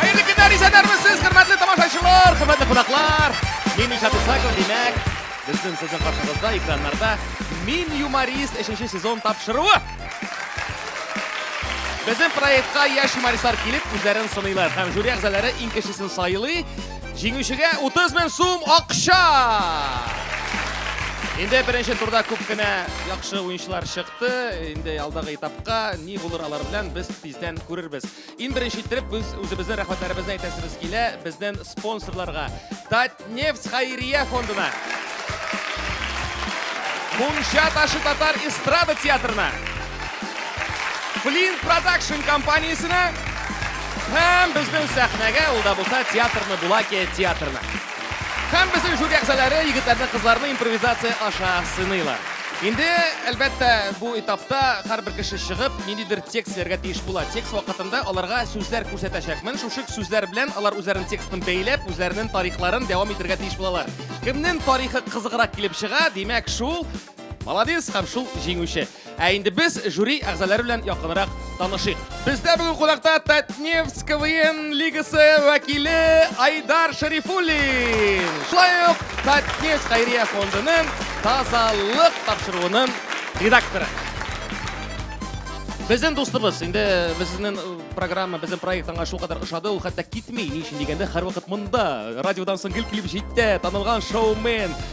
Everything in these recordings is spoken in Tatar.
Хәерле көннәр, исәннәрме сез, хөрмәтле тамашачылар, хөрмәтле кунаклар. Мин Ильшат Исаков, димәк, безнең сезнең каршыгызда экраннарда Мин юморист 3 сезон тапшыруы. Безнең проектка яшь юмористлар килеп үзләрен сыныйлар һәм жюри әгъзалары иң кечесен сайлый. Җиңүчегә 30 мең сум акча! Инде беренче турда күп кенә яхшы уенчылар чыкты. Инде алдагы этапка ни булыр алар белән без тиздән күрербез. Иң беренче иттереп без үзебезнең рәхмәтләребезне әйтәсебез килә безнең спонсорларга. Татнефть хәйрия фондына. Мунча ташы татар эстрада театрына. Флинт продакшн компаниясенә һәм безнең сәхнәгә ул да булса театрны Булаке театрына. Һәм безнең җүри әгъзалары егетләрне кызларны импровизация аша сыныйлар. Инде, әлбәттә, бу этапта һәрбер кеше чыгып, ниндидер текст сөйләргә тиеш була. Текст вакытында аларга сүзләр күрсәтәчәкмен. Шушы сүзләр белән алар үзләренең текстын бәйләп, үзләренең тарихларын дәвам итергә тиеш булалар. Кемнең тарихы кызыграк килеп чыга, димәк, шул молодец һәм шул җиңүче. Ә инде без жюри әгъзалары белән якынрак танышыйк. Бездә бүген кунакта Татнефть КВН лигасы вәкиле Айдар Шарифуллин. Шулай ук Татнефть хәйрия фондының тазалык тапшыруының редакторы. Безнең дустыбыз, инде безнең э, программа, безнең проект аңа шулкадәр ошады, ул хәтта китми. Ни өчен дигәндә, һәрвакыт монда, радиодан соң гел килеп җитә, танылган шоумен,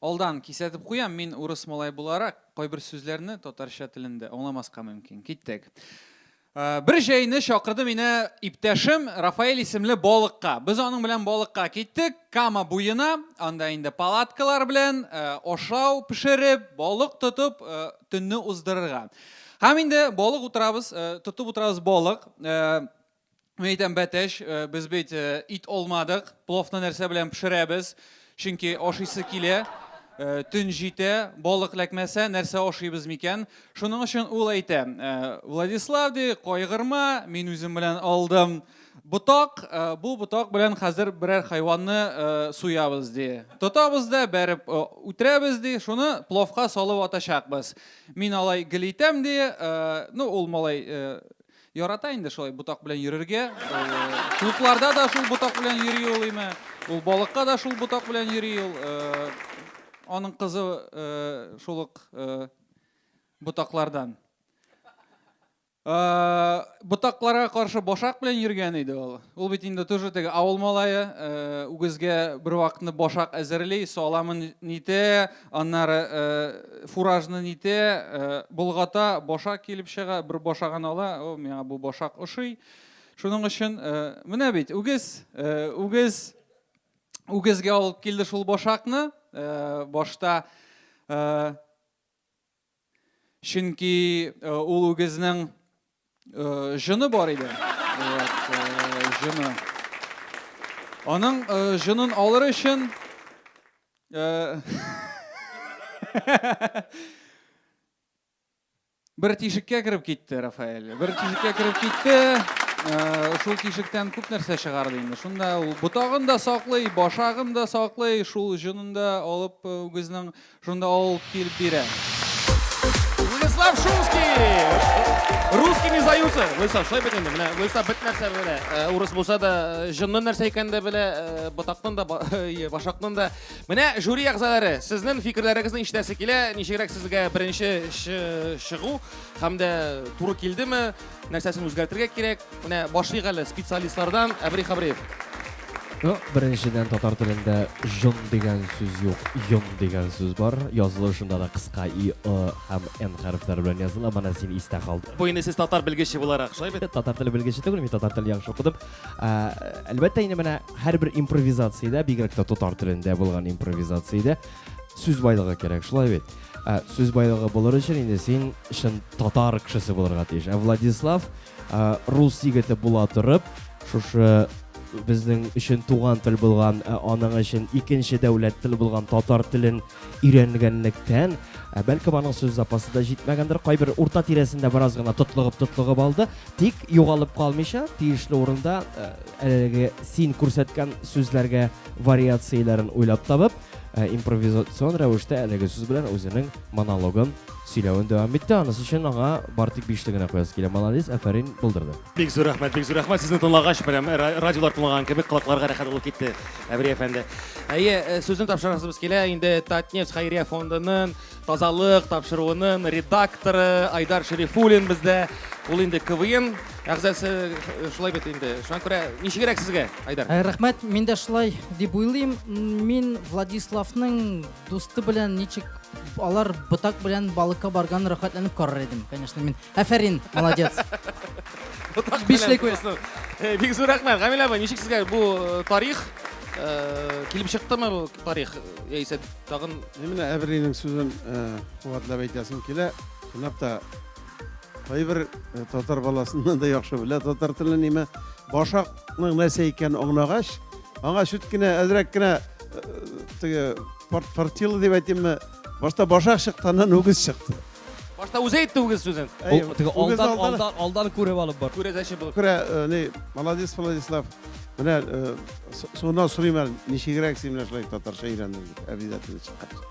Алдан кисәтеп куям, мин урыс малае буларак, кайбер сүзләрне татарча телендә аңламаска мөмкин. Киттек. Бер җәйне чакырды мине иптәшем Рафаэль исемле балыкка. Без аның белән балыкка киттек, Кама буена, анда инде палаткалар белән ашау пешереп, балык тотып, төнне уздырырга. Һәм инде балык утырабыз, тотып утырабыз балык. Мин әйтәм, Бәтәч, э, без бит э, ит алмадык, пловны нәрсә белән пешерәбез? Чөнки ашыйсы килә, э, төн җитә, балык ләкмәсә, нәрсә ашыйбыз микән? Шуның өчен ул әйтә, э, Владислав, ди, кайгырма, мин үзем белән алдым ботак, э, бу ботак белән хәзер берәр хайванны э, суябыз, ди. Тотабыз да, бәреп э, үтерәбез, ди, шуны пловка салып атачакбыз. Мин алай гел итәм, ди, э, ну, ул малай э, Ярата инде шулай ботак белән йөрергә. Клубларда да шул ботак белән йөри ул име. Ул балыкка да шул ботак белән йөри ул. Аның кызы шул ук ботаклардан. Ботакларга каршы башак белән йөргән иде ул. Ул бит инде тоже теге авыл малае, үгезгә бервакытны башак әзерли, саламын нитә, Аннары э, фуражны нитә, э, болгата, башак килеп чыга, бер башагын ала, о, миңа бу башак ошый. Шуның өчен э, менә бит үгез, э, үгез үгезгә алып килде шул башакны. Э, башта э, Чөнки ул үгезнең җоны бар иде. Җоны. Аның җонын алыр өчен бер тишеккә кереп китте Рафаэль. Бер тишеккә кереп китте. Шул тишектән күп нәрсә чыгарды инде. Шунда ул ботагын да саклый, башагын да саклый, шул җонын да алып үгезнең Шунда ул килеп бирә. Владислав Шумский! Русский не сдаются. Владислав, шулай бит инде. Менә Владислав бит нәрсә белә. Э, урыс булса да, э, җынның нәрсә икәнен дә белә, э, ботакның да, башакның да. Менә жюри әгъзалары, сезнең фикерләрегезне ишетәсе килә. Ничегрәк сезгә беренче чыгу һәм дә туры килдеме? нәрсәсен үзгәртергә кирәк? Менә башлыйк әле специалистлардан Әбри Хабриев. Ну, беренчедән татар телендә жон дигән сүз юк, йон дигән сүз бар. Язылышында да кыска и, ы һәм н хәрефләре белән языла. Менә син истә калды. Бу инде сез татар белгече буларак, шулай бит? Татар теле белгече түгел, мин татар телен яхшы укыдым. Әлбәттә, инде менә һәрбер импровизациядә, бигрәк тә татар телендә булган импровизациядә сүз байлыгы кирәк, шулай бит? Сүз байлыгы булыр өчен инде син чын татар кешесе булырга тиеш. Ә Владислав рус егете була торып, шушы безнең өчен туган тел булган, ә аның өчен икенче дәүләт тел булган татар телен өйрәнгәнлектән, ә бәлкем аның сүз запасы да җитмәгәндер, кайбер урта тирәсендә бераз гына тотлыгып-тотлыгып алды, тик югалып калмыйча, тиешле урында әлеге син күрсәткән сүзләргә вариацияләрен уйлап табып, импровизацион рәвештә әлеге сүз белән үзенең монологын Сөйләвен дәвам итте, анысы өчен аңа бар тик бишле генә куясы килә. Молодец, афәрин, булдырды. Бик зур рәхмәт, бик зур рәхмәт. Сезне тыңлагач, прям радиолар тыңлаган кебек колакларга рәхәт булып китте, Әбри әфәнде. Әйе, э, сүзне тапшырасыбыз килә инде Татнефть хәйрия фондының тазалык тапшыруының редакторы Айдар Шерифуллин бездә. Ул инде КВН әгъзасы э, шулай бит инде. Шуңа күрә ничегрәк сезгә, Айдар? Э, рәхмәт, мин дә шулай дип уйлыйм. Мин Владиславның Дусты белән ничек алар ботак белән балыкка барган рәхәтләнеп карар идем, конечно, мин. Афәрин, молодец. Ботак Бишле күз. Э, бик зур рәхмәт. Гамилә апа, ничек сезгә бу э, тарих э, килеп чыктымы бу тарих? Яисә тагын Менә Әбринең сүзен куатлап әйтәсем килә. Чынлап та кайбер татар баласыннан да яхшы белә татар телен нимә. Башакның нәрсә икәнен аңлагач, аңа чүт кенә әзрәк кенә теге фортила дип әйтимме башта башак чыкты аннан үгез чыкты башта үзе әйтте үгез сүзен теге алдан алдан алдан күреп алып бар күрәзәче булып күрә э, не молодец владислав менә э, соңыннан сорыйм әле ничегрәк син менә шулай татарча өйрәндең дип обязательно чыккач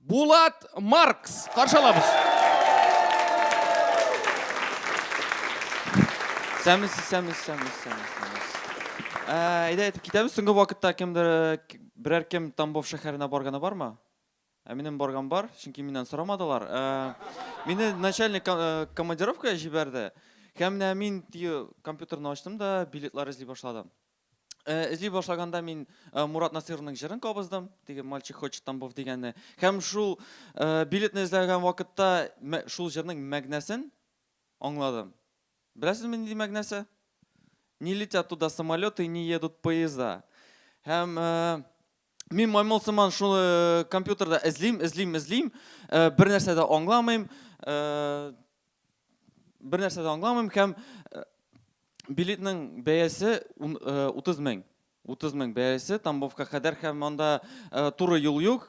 Булат Маркс каршы алабыз. Сәмис, сәмис, сәмис, сәмис, сәмис. Ә, әйдә, әйтеп китәбез. Соңгы вакытта кемдер берәр кем Тамбов шәһәренә барганы бармы? Ә минем барган бар, чөнки миннән сорамадылар. Ә, мине начальник э, командировкага җибәрде. Һәм менә мин компьютерны ачтым да билетлар эзли башладым. Э, эзли башлаганда мин э, Мурат Насыйровның җырын кабыздым, теге мальчик хочет тамбов дигәнне. Һәм шул э, билетны эзләгән вакытта шул җырның мәгънәсен аңладым. Беләсезме нинди мәгънәсе? Не летят туда самолеты, не едут поезда. Һәм Мин маймыл сыман шуны э, компьютерда эзлим, эзлим, эзлим, э, бер нәрсә дә аңламыйм, э, бер нәрсә дә аңламыйм һәм билетның бәясе 30 мең. 30 мең бәясе Тамбовка кадәр һәм анда туры юл юк.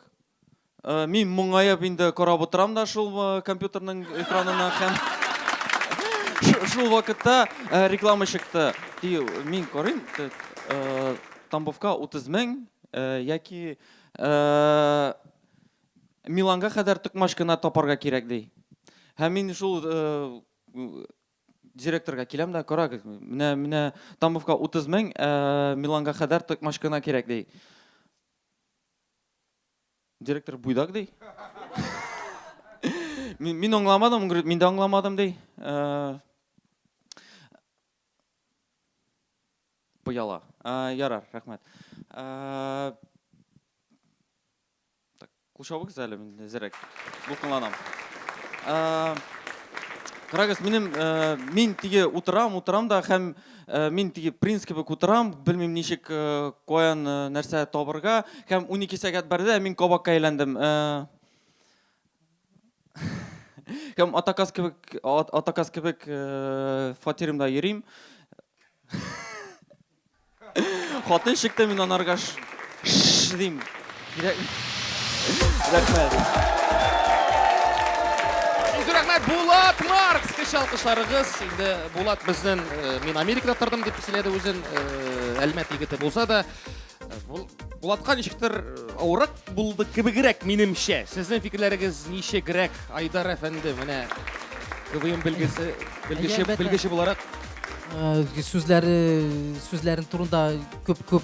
Мин моңаеп инде карап утырам да шул компьютерның экранына һәм шул вакытта реклама чыкты. Мин карыйм, Тамбовка 30 мең яки Миланга кадәр токмач кына тапарга кирәк ди. Һәм мин шул директорга киләм дә, карагыз, менә менә Тамбовка 30 мең, Миланга кадәр токмач кына кирәк ди. Директор буйдак ди. Мин, мин аңламадым, он говорит, мин дә аңламадым ди. Э, Пыяла. Э, ярар, рәхмәт. Э, так, кушабыгыз әле мин зерәк. Дулкынланам. Э, Карагыз, минем, э, мин тиге утырам, утырам да һәм Э, мин теге принц кебек утырам белмим ничек э, каян э, нәрсә табырга һәм 12 сәгать барды ә мин кабакка әйләндем һәм атаказ кебек атаказ кебек фатирымда йөрим хатын чыкты мин анарга дим Рәхмәт. Изү рәхмәт, Булат Маркс! Кеше алкышларыгыз. Инде Булат безнен, э, мин Америкада тордым дип сөйләде үзен, э, Әлмәт егете булса да. Бул- Булатка ничектер э, авырак булды кебегрәк, минемчә. Сезнең фикерләрегез ничегрәк, Айдар әфәнде, менә КВМ белгесе, белгече, Әлбәттә. белгече буларак? Э, Сүзләре, сүзләрен турында күп-күп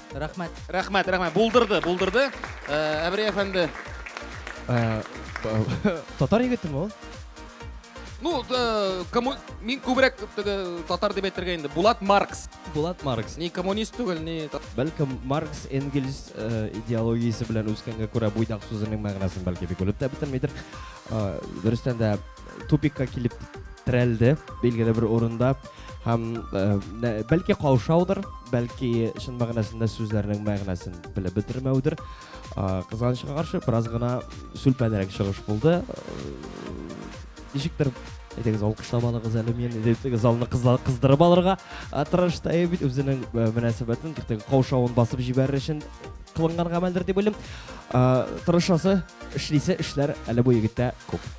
Рәхмәт. Рәхмәт, рәхмәт. Булдырды, булдырды. Э, Әбри әфәнде. Э, татар егетеме ул? Ну, э, кому... мин күбрәк теге татар дип әйтергә инде. Булат Маркс. Булат Маркс. Ни коммунист түгел, ни... Бәлкем Маркс Энгельс э, идеологиясе белән үскәнгә күрә буйдак сүзенең мәгънәсен бәлки бик үлеп тә бетермидер. Э, Дөрестән дә тупикка килеп терәлде билгеле бер урында һәм э, бәлки каушаудыр бәлки чын мәгънәсендә сүзләрнең мәгънәсен белеп бетермәүдер кызганычка каршы бераз гына сүлпәнрәк чыгыш булды ничектер әйтегез алкышлап алыгыз әле мені деп залны кыздырып алырга тырышты ә бит үзенең мөнәсәбәтен каушавын басып җибәрер өчен кылынган гамәлдер дип уйлыйм тырышасы эшлисе эшләр әле бу егеттә күп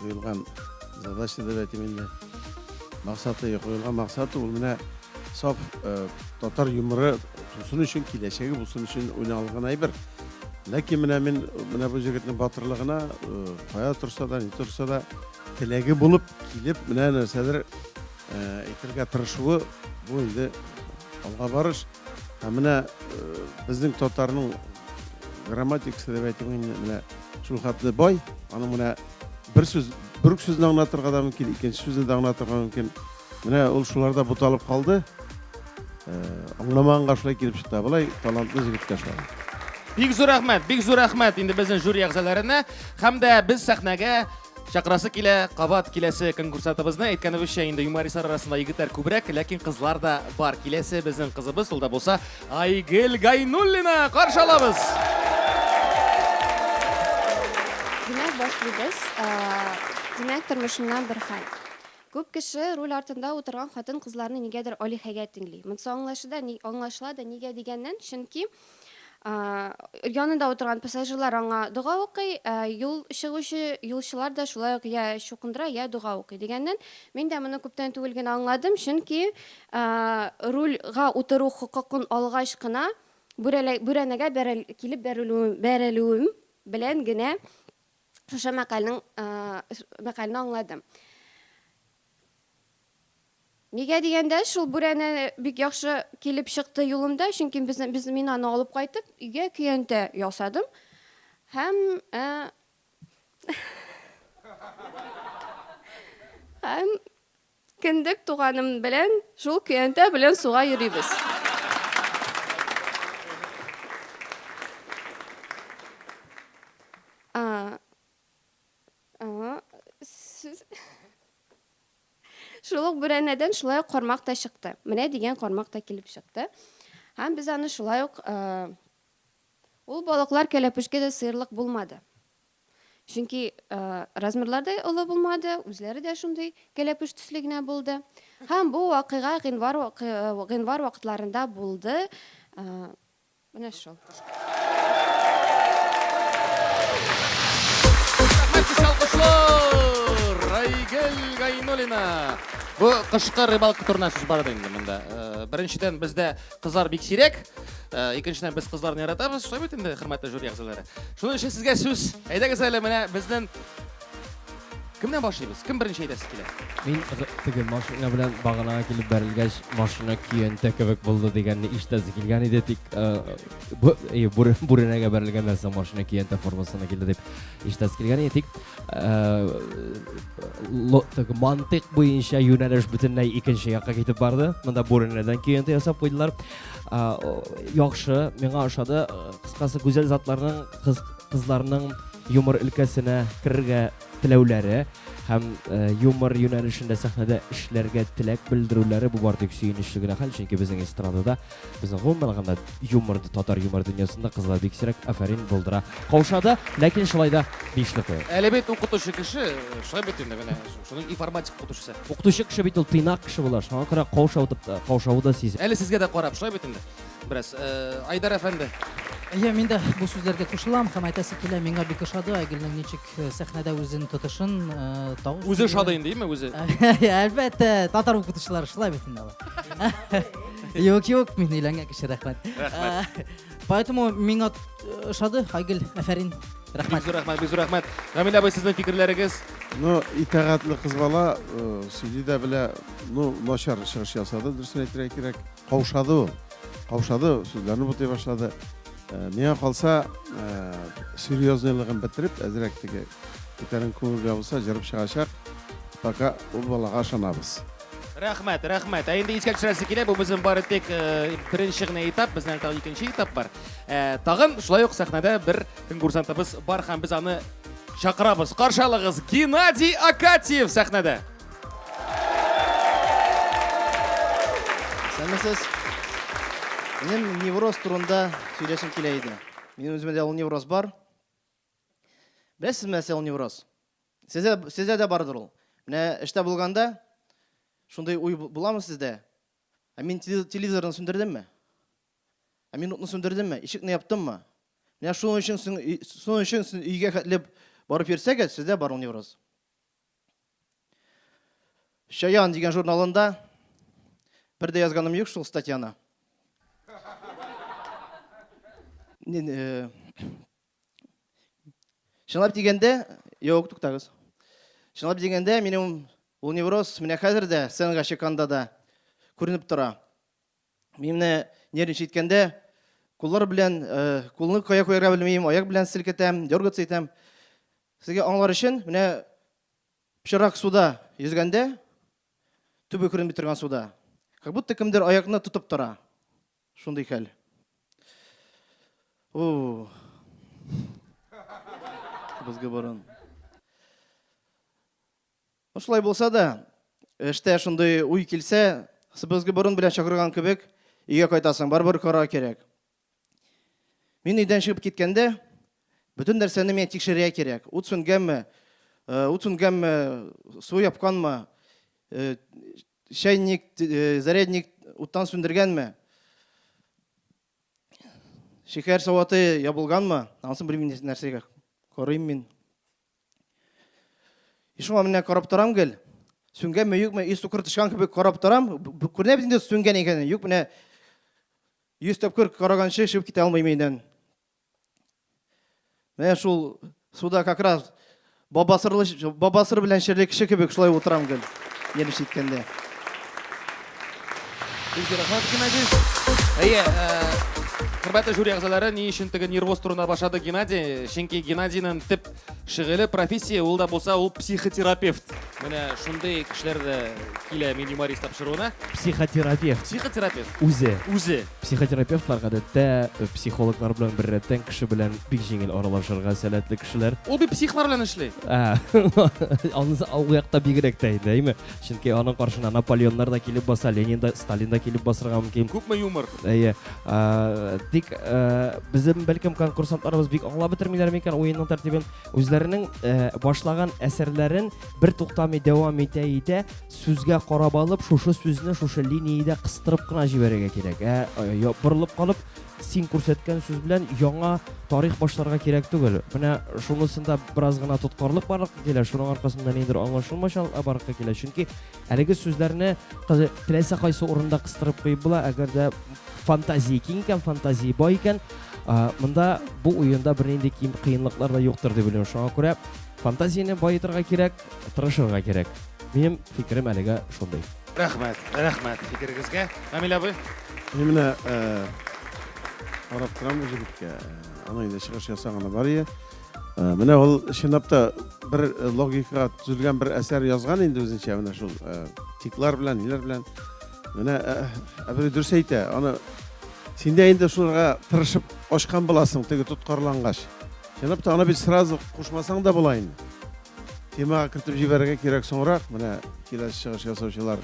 куелган задача дип әйтим инде максаты куелган максаты ул менә саф татар юморы тусын өчен киләчәге булсын өчен уйналган әйбер ләкин менә мин менә бу җегетнең батырлыгына кая торса да ни торса да теләге булып килеп менә нәрсәдер әйтергә тырышуы бу инде алга барыш һәм менә безнең татарның грамматикасы дип әйтим инде менә Шул хәтле бай, аның менә бер сүз, бер үк сүзне аңлатырга да мөмкин, икенче сүзне дә аңлатырга мөмкин. Менә ул шуларда буталып калды. Э, аңламаганга шулай килеп чыкты. Болай талантлы җегеткә шулай. Бик зур рәхмәт, бик зур рәхмәт инде безнең жюри әгъзаларына һәм дә без сәхнәгә Чакырасы килә, кабат киләсе конкурсатыбызны әйткәнебезчә инде юмористлар арасында егетләр күбрәк, ләкин кызлар да бар. Киләсе безнең кызыбыз ул да булса Айгел Гайнуллина каршы алабыз. Димәк, башлыйбыз. Димәк, тормышымнан бер хәл. Күп кеше руль артында утырган хатын-кызларны нигәдер алиһәгә тиңли. Монсы аңлашыда, аңлашыла да нигә дигәннән, чөнки Янында утырган пассажирлар аңа дога укый, ә юл чыгучы юлчылар да шулай ук я чукындыра, я дога укый. Дигәннән, мин дә моны күптән түгел генә аңладым, чөнки рульга утыру хокукын алгач кына бүрәнәгә килеп бәрелүем белән генә шушы мәкальнең мәкальне аңладым. Нигә дигәндә, шул бүрәнә бик яхшы килеп чыкты юлымда, чөнки без, без мин аны алып кайтып, өйгә көянтә ясадым һәм ә, һәм кендек туганым белән шул көянтә белән суга йөрибез. А, а, сез... Шул ук бүрәнәдән шулай ук кармак та чыкты. Менә дигән кармак та килеп чыкты. Һәм без аны шулай ук э, ул балыклар кәләпүшкә дә сыерлык булмады. Чөнки э, размерлар да олы булмады, үзләре дә шундый кәләпүш төсле генә булды. Һәм бу вакыйга гыйнвар вакы- э, гыйнвар вакытларында булды. Э, Менә шул. Айгөл Гайнуллина. Бу кышкы рыбалка турына сүз бар инде монда. Э, беренчедән бездә кызлар бик сирәк. Э, икенчедән без кызларны яратабыз. Шулай бит инде, хөрмәтле жюри әгъзалары. Шуның өчен сезгә сүз. Әйдәгез әле менә безнең Кемнән башлыйбыз? Кем беренче әйтәсе килә? Мин теге машина белән баганага килеп бәрелгәч, машина көянтә кебек булды дигәнне ишетәсе килгән иде, тик бүрәнәгә бәрелгәннән соң машина көянтә формасына килде дип ишетәсе килгән иде, тик теге мантык буенча юнәлеш бөтенләй икенче якка китеп барды. Монда бүрәнәдән көянтә ясап куйдылар. Яхшы, миңа ошады. Кыскасы, гүзәл затларның кызларның юмор өлкәсенә керергә теләүләре һәм юмор юнәлешендә сәхнәдә эшләргә теләк белдерүләре бу бары тик сөенечле генә хәл, чөнки безнең эстрадада, безнең гомумән алганда юмор, татар юмор дөньясында кызлар бик сирәк, афәрин, булдыра, каушады, ләкин шулай да бишле куя. Әле бит укытучы кеше, шулай бит инде менә, шуның информатика укытучысы. Укытучы кеше бит ул тыйнак кеше була, шуңа күрә каушау да сизә. Әле сезгә дә карап, шулай бит инде. Бераз э, Айдар әфәнде. Әйе, мин дә бу сүзләргә кушылам һәм әйтәсе килә, миңа бик ошады Айгөлнең ничек э, сәхнәдә үзен тотышын, э, тавыш. Үзе ошады инде, әйеме үзе? Әлбәттә, татар укытучылары шулай бит инде алар. Юк, юк, мин өйләнгән кеше, рәхмәт. Рәхмәт. Э, поэтому миңа ошады Айгөл, афәрин. Рәхмәт. Бик рәхмәт, бик рәхмәт. Рамил абый, сезнең фикерләрегез? Ну, итәгатьле кыз бала, сүзи дә белә, ну, начар чыгыш ясады, дөресен әйтергә кирәк. Каушады ул. Каушады, сүзләрне бутый башлады. Миңа калса, серьезныйлыгын бетереп, әзрәк теге күтәрен күңелгә булса, җырып чыгачак. Пока ул балага ышанабыз. Рәхмәт, рәхмәт. Ә инде искә төшерәсе килә, бу безнең бары тик беренче генә этап, безнең әле тагын икенче этап бар. Тагын шулай ук сәхнәдә бер конкурсантыбыз бар һәм без аны чакырабыз. Каршы алыгыз, Геннадий Акатьев сәхнәдә! Исәнмесез. Минем невроз турында сөйләшем килә иде. Минем үземдә дә ул невроз бар. Беләсезме, нәрсә ул невроз? Сездә, сездә дә бардыр ул. Менә эштә булганда шундый уй буламы сездә? Ә мин телевизорны сүндердемме? Ә мин утны сүндердемме? Ишекне яптыммы? Менә шуның өчен шуның өчен өйгә хәтле барып йөрсәгез, сездә бар ул невроз. Чаян дигән журналында бер дә язганым юк шул статьяны. Чынлап дигәндә, юк, туктагыз. Чынлап дигәндә, минем ул невроз менә хәзер дә сценага чыкканда да күренеп тора. Мине нервничать иткәндә, куллар белән, кулны кая куярга белмим, аяк белән селкетәм, дергаться итәм. Сезгә аңлар өчен, менә пычырак суда йөзгәндә, төбе күренми торган суда, как будто кемдер аякны тотып тора. Шундый хәл. У. Бызгы борын. Ну, шулай булса да, эштә шундый уй килсә, сыбызгы борын белән чакырган кебек, өйгә кайтасың, барыбер карар кирәк. Мин өйдән чыгып киткәндә, бөтен нәрсәне миңа тикшерергә кирәк. Ут сүнгәнме, э, ут сүнгәнме, су япканмы, э, чайник, э, зарядник уттан сүндергәнме, шикәр саваты ябылганмы, анысын белмим нәрсәгә карыйм мин. И шуңа менә карап торам гел. Сүнгәнме, юкмы, и сукыр тышкан кебек карап торам. Күренә бит инде сүнгән икәнен. Юк, менә Йөз тапкыр караганчы чыгып китә алмыйм өйдән. Менә шул суда как раз бабасырлы, бабасыр белән шерле кеше кебек шулай утырам гел. Ел ишеткәндә. Бик рәхмәт Геннадий. Әйе, хөрмәтле жюри әгъзалары, ни өчен теге нервоз турында башлады Геннадий? Чөнки Геннадийның төп Шөгыле профессия ул да булса ул психотерапевт. Менә шундый кешеләр дә килә мин юморист тапшыруына. Психотерапевт. Психотерапевт. Үзе. Үзе. Психотерапевтлар гадәттә э, психологлар белән беррәттән кеше белән бик җиңел аралашырга сәләтле кешеләр. Ул бит психлар белән эшли. Ә, Аны ул якта бигрәк тә инде, әйме? Чөнки аның каршына Наполеоннар да килеп баса, Ленин да, Сталин да килеп басырга мөмкин. Күпме юмор? Әйе. Ә, тик ә, безнең бәлкем конкурсантларыбыз бик аңлап бетермиләр микән уенның тәртибен? Үзләренең ә, башлаган әсәрләрен бер туктамый дәвам итә итә, сүзгә карап алып, шушы сүзне шушы линиядә кыстырып кына җибәрергә кирәк. Ә, ә, борылып калып, Син күрсәткән сүз белән яңа тарих башларга кирәк түгел. Менә шунысында бераз гына тоткарлык барлыкка килә, шуның аркасында ниндер аңлашылмачалыкка барлыкка килә. Чөнки әлеге сүзләрне теләсә кайсы урында кыстырып куеп була, әгәр дә фантазия киң икән, фантазия бай икән, монда бу уенда бернинди кыенлыклар да юктыр дип уйлыйм. Шуңа күрә фантазияне баетырга кирәк, тырышырга кирәк. Минем фикерем әлегә шундый. Рәхмәт, рәхмәт фикерегезгә. Камил абый. Мин менә карап торам бу җегеткә. Аны инде чыгыш ясаганы бар ие. Менә ул чынлап та бер логикага төзелгән бер әсәр язган инде үзенчә менә шул тиклар белән, ниләр белән. Менә Әбри дөрес әйтә. Аны син дә инде шуларга тырышып ачкан буласың, теге тоткарлангач. Чынлап та аны бит сразу кушмасаң да була инде. Темага кертеп җибәрергә кирәк соңрак, менә киләсе чыгыш ясаучылар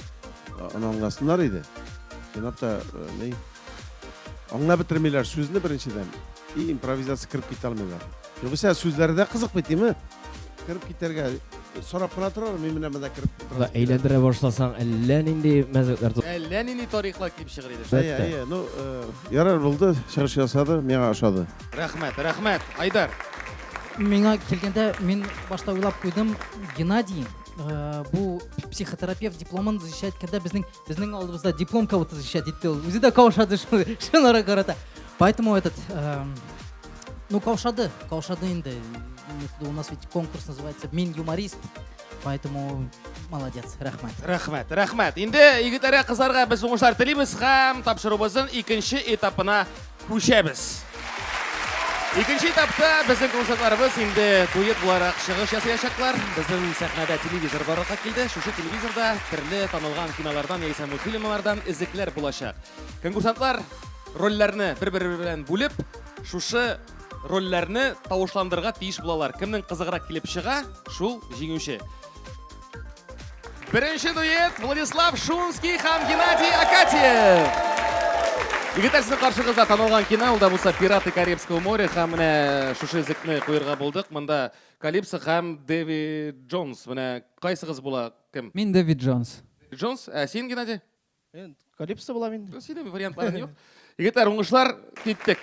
аңласыннар иде. Чынлап та, ни, аңлап бетермиләр сүзне беренчедән, и импровизация кереп китә алмыйлар. Югыйсә сүзләре дә кызык бит, име? Кереп китәргә сорап кына торалар, мин менә монда кереп утырам. Әйләндерә башласаң, әллә нинди мәзәкләр тот. Әллә нинди тарихлар килеп чыгыр иде. Әйе, әйе, ну, ярар булды, чыгыш ясады, миңа ошады. Рәхмәт, рәхмәт, Айдар. Миңа килгәндә мин башта уйлап куйдым, Геннадий э, бу психотерапевт дипломын защищать иткәндә безнең безнең алдыбызда диплом кого-то защищать итте ул. Үзе дә каушады шул шуларга карата. Поэтому этот э, ну каушады, каушады инде. У нас ведь конкурс называется Мин юморист. Поэтому молодец, рәхмәт. Рәхмәт, рәхмәт. Инде егетләргә, кызларга без уңышлар телибез һәм тапшыруыбызның икенче этапына Күчәбез. Икенче этапта безнең концертларыбыз инде дуэт буларак чыгыш ясаячаклар. Безнең сәхнәдә телевизор барлыкка килде. Шушы телевизорда төрле танылган кинолардан яисә мультфильмнардан эзлекләр булачак. Конкурсантлар рольләрне бер-бере белән бүлеп, шушы рольләрне тавышландырырга тиеш булалар. Кемнең кызыграк килеп чыга, шул җиңүче. Беренче дуэт Владислав Шунский һәм Геннадий Акатьев. Егетләр сезнең каршыгызда танылган кино, ул да булса Пираты Карибского моря һәм менә шушы зекне куярга булдык. Монда Калипсо һәм Дэви Джонс. Менә кайсыгыз була кем? Мин Дэви Джонс. Джонс, ә син Геннадий? Калипсо булам инде. Синең вариантларың юк. Егетләр, уңышлар, киттек.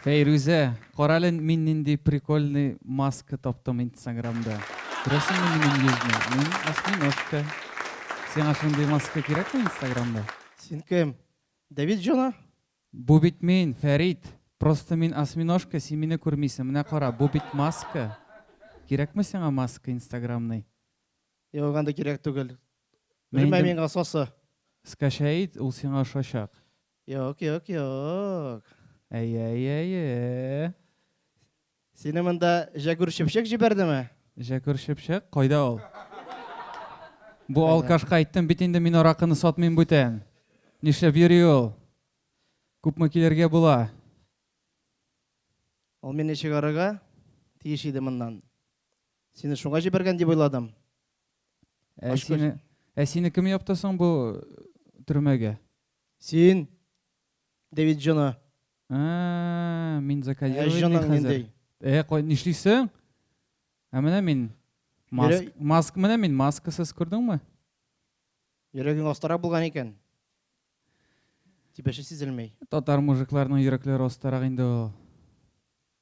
Фәйрүзә, карале мин нинди прикольный маска таптым инстаграмда. Күрәсеңме минем йөзне? Мин осьминожка. Сиңа шундый маска кирәкме инстаграмда? Син кем? Давид Джона? Бу бит мин, Фәрит. Просто мин осьминожка, син мине күрмисең. Менә кара, бу бит маска. Кирәкме сиңа маска инстаграмный? Юк, анда кирәк түгел. Белмәм мин асасы. Скачает, ул сиңа ошачак. Юк, юк, юк. Әйе-әйе-әйе. Сине монда Җәгүр Чепчек җибәрдеме? Җәгүр Чепчек, кайда ул? Бу алкашка әйттем бит инде мин аракыны сатмыйм бүтән. Нишләп йөри ул? Күпме килергә була? Ул мине чыгарырга тиеш иде моннан. Сине шуңа җибәргән дип уйладым. Ә Ашкоч. сине, ә сине кем япты соң бу төрмәгә? Син, Дэвид Джона. Ә, мин Ә закодировать җанаң хәзер. нинди? Э, кой, нишлисең? Ә менә мин маск, Йөрәк- маск, менә мин маскасыз, күрдеңме? Йөрәгең астарак булган икән. Тибеше сизелми. Татар мужикларының йөрәкләре остарак инде ул.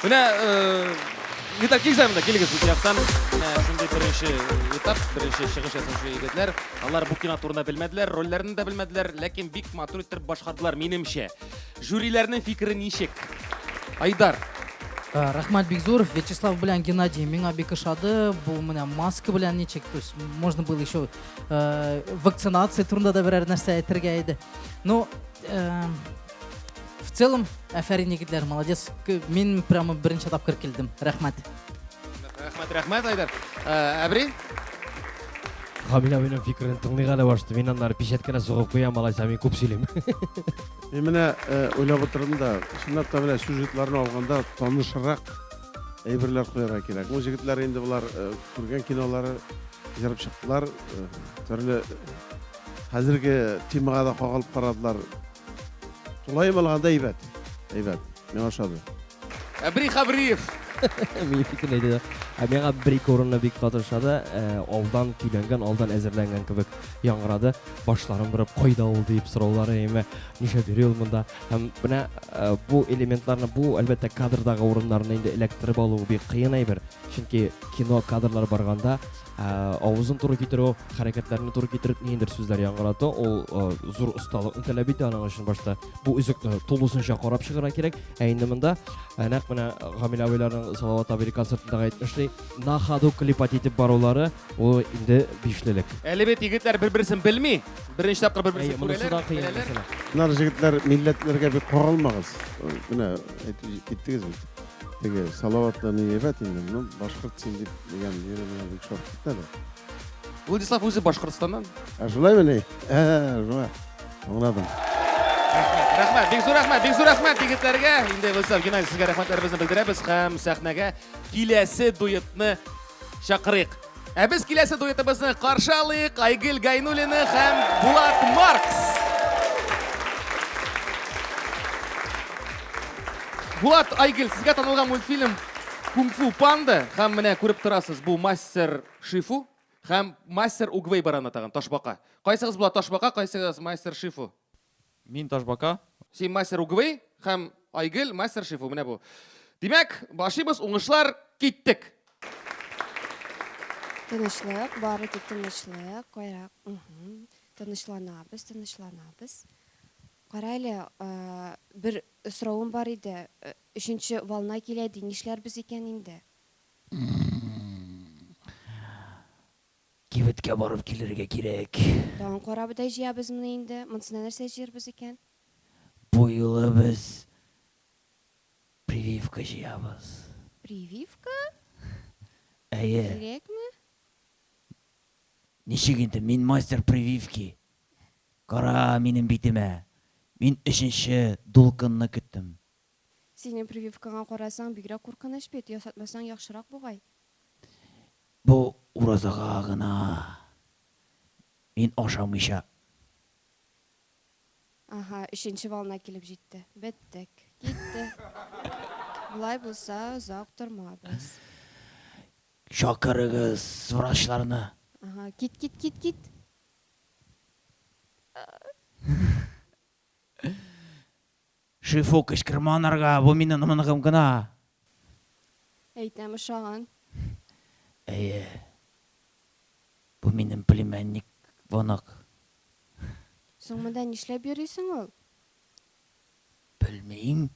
Менә Виталь килсә монда, килегез бу яктан. Менә шундый беренче этап, беренче чыгыш ясаучы егетләр. Алар бу кино турында белмәделәр, рольләрен дә белмәделәр, ләкин бик матур итеп башкардылар, минемчә. Жюриләрнең фикере ничек? Айдар. Рәхмәт бик зур. Вячеслав белән Геннадий миңа бик ошады. Бу менә маска белән ничек, то есть можно было еще э, вакцинация турында да берәр нәрсә әйтергә иде. Ну, э, в целом, әфәрин егетләр, молодец. Мин прямо беренче тапкыр килдем. Рәхмәт. Рәхмәт, рәхмәт, Айдар. Э, Әбри? Хамин абыйның фикерен тыңлыйга да башты. Мин аннары печәткәләр сугып куям, алайса мин күп сөйлим. Мин менә э, уйлап утырдым да, чынлап та менә сюжетларны алганда танышрак Әйберләр куярга кирәк. Бу җегетләр инде болар э, күргән кинолары җырып чыктылар. Э, төрле хәзерге темага да кагылып карадылар. Тулаем алганда әйбәт. Әйбәт. Миңа ошады. Әбри Хабриев. Мин фикер әйтә. Ә миңа бер ике урынны бик каты ошады. Э, алдан көйләнгән, алдан әзерләнгән кебек яңгырады. Башларын борып, кайда ул дип сораулары яме. Нишә йөри ул монда? Һәм менә э, бу элементларны, бу әлбәттә кадрдагы урыннарны инде эләктереп алу бик кыен әйбер. Чөнки кино кадрлар барганда э, авызын туры китерү, хәрәкәтләрне туры китереп ниндидер сүзләр яңгырату, ул э, зур осталыкны таләп итә. Аның өчен башта бу үзекне тулысынча карап чыгара кирәк. Ә инде монда э, нәкъ менә Гамил абыйларның Салават абый концертындагы әйтмешли, на ходу клипать итеп барулары, ул инде бишлелек. Әле бит егетләр бер-берсен белми. Беренче тапкыр бер-берсен күрәләр, беләләр. Нар җегетләр, милләтләргә бик каралмагыз. Менә әйтеп киттегез бит. Теге салаватны не ебәт инде, ну, башкорт син дип дигән җире менә бик шат китә дә. Владислав үзе Башкортстаннан. Ә шулай мени? Ә, шулай. Аңладым. Рәхмәт, бик зур рәхмәт, бик зур рәхмәт егетләргә. Инде Владислав Геннадьевич сезгә рәхмәтләребезне белдерәбез һәм сәхнәгә киләсе дуэтны чакырыйк. Ә без киләсе дуэтыбызны каршы алыйк, Айгөл Гайнуллина һәм Булат Маркс. Булат, Айгөл, сезгә танылган мультфильм Кунг-фу панда һәм менә күреп торасыз, бу мастер Шифу һәм мастер Угвей бараны тагын ташбака. Кайсыгыз була ташбака, кайсыгыз мастер Шифу? Мин Ташбака. Син мастер угвы һәм Айгөл мастер шифу. Менә бу. Димәк, башыбыз уңышлар киттек. Тынычлык, бары тик тынычлык, кайрак. Тынычланабыз, тынычланабыз. Кара әле, бер соравым бар иде. Өченче волна килә ди, нишләрбез икән инде? Кибеткә барып килергә кирәк. Тагын карабодай җыябызмыни инде? Монсына нәрсә җыербыз икән? Бу юлы без прививка җыябыз. Прививка? Әйе. Кирәкме? Ничек инде, мин мастер прививки. Кара минем битемә. Мин өченче дулкынны көттем. Синең прививкаңа карасаң, бигрәк куркыныч бит, ясатмасаң яхшырак бугай. Бу уразага гына мин ашамыйча. Аһа, өченче волна килеп җитте. Беттек. Китте. Болай булса, озак тормабыз. Чакырыгыз врачларны. Аһа, кит, кит, кит, кит. Шифу, кычкырма анарга, бу мине ныгым гына. Әйтәм, ошаган. Әйе. Бу минем племянник, Вонок. Соң монда нишләп йөрисең ул? Белмим.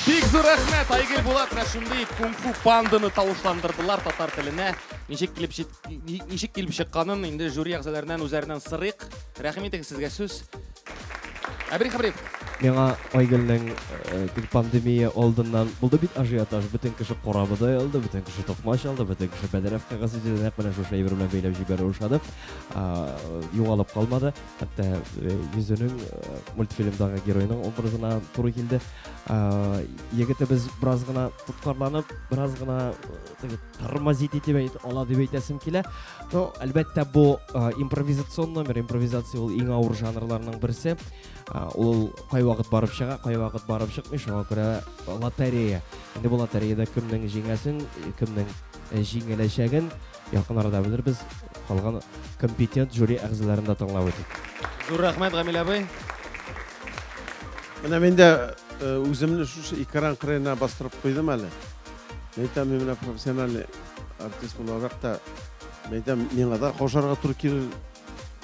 Бик зур рәхмәт, Айгөл Булат, менә шундый кунг-фу панданы тавышландырдылар татар теленә. Ничек килеп җит Ничек килеп чыкканын инде жюри әгъзаларыннан үзләреннән сырыйк. Рәхим итегез сезгә сүз. Әбрих Хабриф. Миңа Айгөлнең э, пандемия алдыннан булды бит ажиотаж. Бөтен кеше корабыда алды, бөтен кеше токмач алды, бөтен кеше бәдәрәф кәгазь иде. Нәкъ менә шушы әйбер белән бәйләп җибәрү ошады. Югалып калмады. Хәтта э, йөзенең э, мультфильмдагы героеның образына туры килде. Егетебез бераз гына тоткарланып, бераз гына тормозить итеп әйт, ала дип әйтәсем килә. Но, әлбәттә, бу э, импровизацион номер, импровизация ул иң авыр жанрларның берсе. Э, ул кай вакыт барып чыга, кай вакыт барып чыкмый, шуңа күрә лотерея. Инде бу лотереяда кемнең җиңәсен, кемнең э, җиңеләчәген якын арада белербез. Калган компетент жюри әгъзаларын да тыңлап үтик. Зур рәхмәт, Гамил абый. Менә мин дә үземне шушы экран кырыена бастырып куйдым әле. Мәйтәм, мин менә профессиональ артист буларак та, мәйтәм, миңа да кошарга туры килер.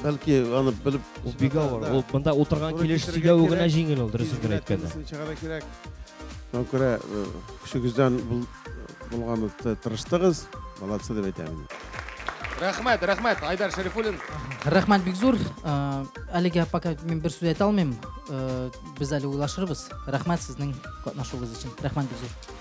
Бәлки аны белеп... Ул бик авыр. Ул бында утырган килеш сөйләве генә җиңел ул, дөресен генә әйткәндә. Чыгара кирәк. Шуңа күрә э, көчегездән булган тырыштыгыз, молодцы дип әйтәм. Рәхмәт, рәхмәт, Айдар Шәрифуллин. Рәхмәт бик зур. Э, әлегә пока мин бер сүз әйтә алмыйм. Э, без әле уйлашырбыз. Рәхмәт сезнең катнашуыгыз өчен. Рәхмәт бик зур.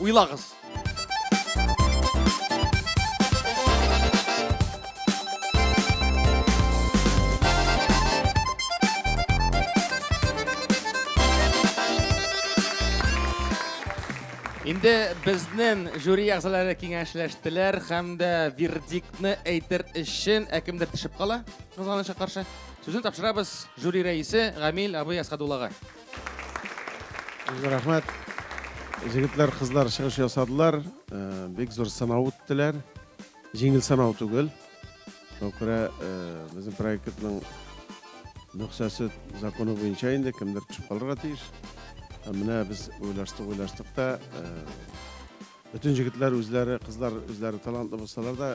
Уйлагыз. Инде безнен жюри әгъзалары киңәшләштеләр һәм дә вердиктны әйтер өчен ә кемдер төшеп кала, кызганычка каршы. Сүзне тапшырабыз жюри рәисе Гамил абый Әсхәдуллага. Зур рәхмәт. Җегетләр, кызлар чыгыш ясадылар. Э, бик зур сынау үттеләр. Җиңел сынау түгел. Шуңа күрә э, безнең проектның нөхсәсе законы буенча инде кемдер төшеп калырга тиеш. Ә менә без уйлаштык, уйлаштык та э, бөтен җегетләр үзләре, кызлар үзләре талантлы булсалар да,